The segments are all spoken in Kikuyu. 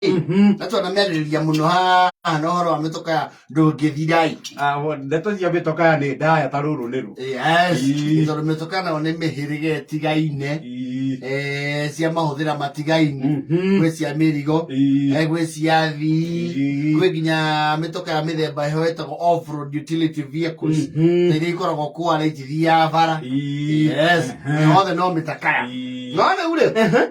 Mhm. na twana merĩrĩria mũno haha na ũhoro wa mĩtoka ya ndũngĩthira-ĩ. Ah, wo- ndeto cia mĩtoka ya nĩ ndaya ta rũrũ nĩ rũ Yes, Ii. tondũ mĩtoka nayo nĩ mĩhĩrĩga ĩtigaine Ii. eh, cia mahũthĩra matigaine Mhm. gwĩ cia mĩrigo Ii. eh, gwĩ cia thii Ii. gwĩ nginya mĩtoka ya mĩthemba ĩho ĩtagwo off-road utility vehicles Mhm. na iria ikoragwo kwara itithia bara Ii. Yes, Ehe. na yothe no mĩtakaya Ii. no rĩu rĩ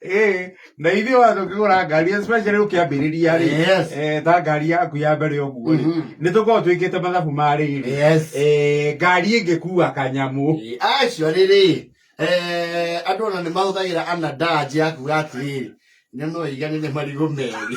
Eh, na ithuĩ watho ũkĩgũra ngari especially ũkĩambĩrĩria rĩ Yes. eh, ta ngari yaku ya mbere ũguo rĩ Mhm. nĩ tũkorwo twĩkĩte mathabu ma rĩrĩ Yes. Eh, ngari ĩngĩkua kanyamũ acio rĩrĩ eh, andũ ona nĩ mahũthagĩra anadaji ya kuga atĩrĩrĩ nĩ noiganĩre marigũ merĩ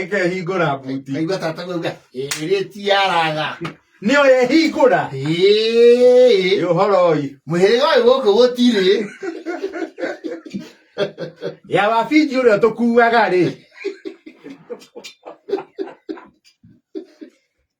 Ĩkehingũra buti. Kaigua tata kuuga ĩrĩ tiaraga. Nĩyo yehingũra. Ĩĩ. Ũhoro ũyũ. Mũhĩrĩga ũyũ gũkũ gũtirĩ. Ya wabinji ũrĩa tũkuaga rĩ.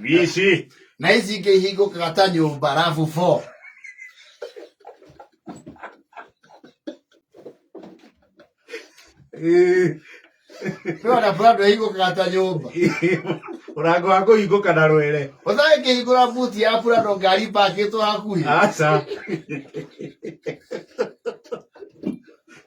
Mici. na ici ingĩ ihingũkaga ta nyũmba rabu bo nĩwona brando ihingũkaga ta nyũmba Mũrango wa kũhingũka na rwere. ũthaĩ ngĩhingũra buti ya brando ngari mbakĩtwo hakuhĩ Aca.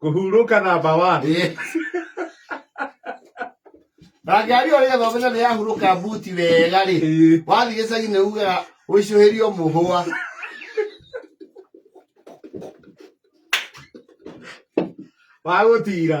Kũhurũka namba one. Ĩĩ. na ngari ĩyo rĩgetha ũmenye nĩ yahurũka mbuti wega rĩ Ĩĩ. wathiĩ gĩcagi nĩ ugaga ũicũhĩrio mũhũa Wa gũtira.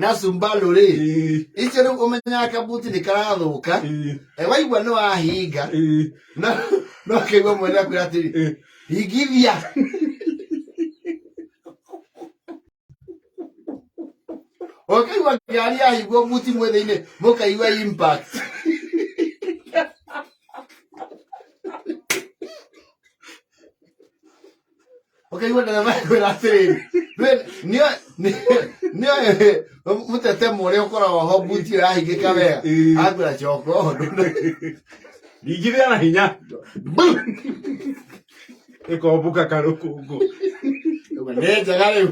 na cumbarũ rĩ ĩĩ, icio rĩu ũmenyaga kabuti nĩ karathũka ĩĩ, Eh, waigua nĩ wahinga ĩĩ, no no ũkaigua mwene akwĩra atĩrĩ ĩĩ. hingithia ũkaigua ngari yahingwo buti mwĩ thĩinĩ mũkaigua impact ũkaigua ndereba kwĩra atĩrĩrĩ we- nĩo- nĩ- nĩo ĩ- mũtetemo ũrĩa ũkoragwo ho mbuti ĩrahingĩka wega Ĩĩ. akwĩra coka ũndũ ndingithia na hinya ĩkombuka karũkũngũ nĩ njega rĩu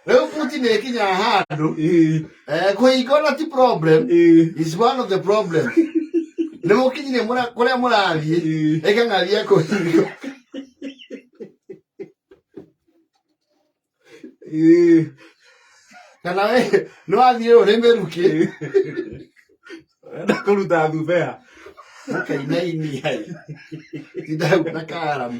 Rĩu Putin ĩkinya handũ Eh, eh, kũhingana ti problem eh, is one of the problem nĩ mũkinyire mũra- kũrĩa mũrathiĩ eh. ĩka ng'aria kũhinga Eh, kana we nĩ wathiĩ ũrĩ mĩrukĩ eh. Wenda kũruta thubea mũkainaini hai tindahau na karamu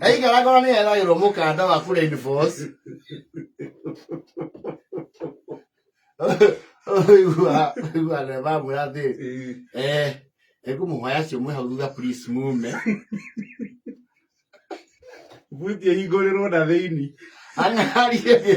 aikara ngoro nä eragä rwo må kanda wa Flying Fox. Ũigua- ũigua ndereba amwĩra atĩ eh, ekũmũhoya acio mwĩ hau thutha please mume buti ĩhingũrĩrwo na thĩini ang'arie thiĩ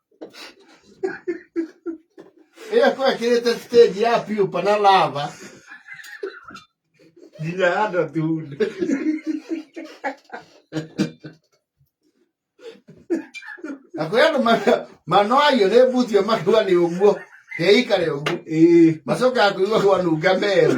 ĩyo kwekĩrĩte stage ya piupa na lava nginya andũ atuunde na kwĩ andũ ma- manoagio nĩ mbuti ĩyo makĩigua nĩ ũguo keikare ũguo ĩĩ macokaga kũigua kwanunga meru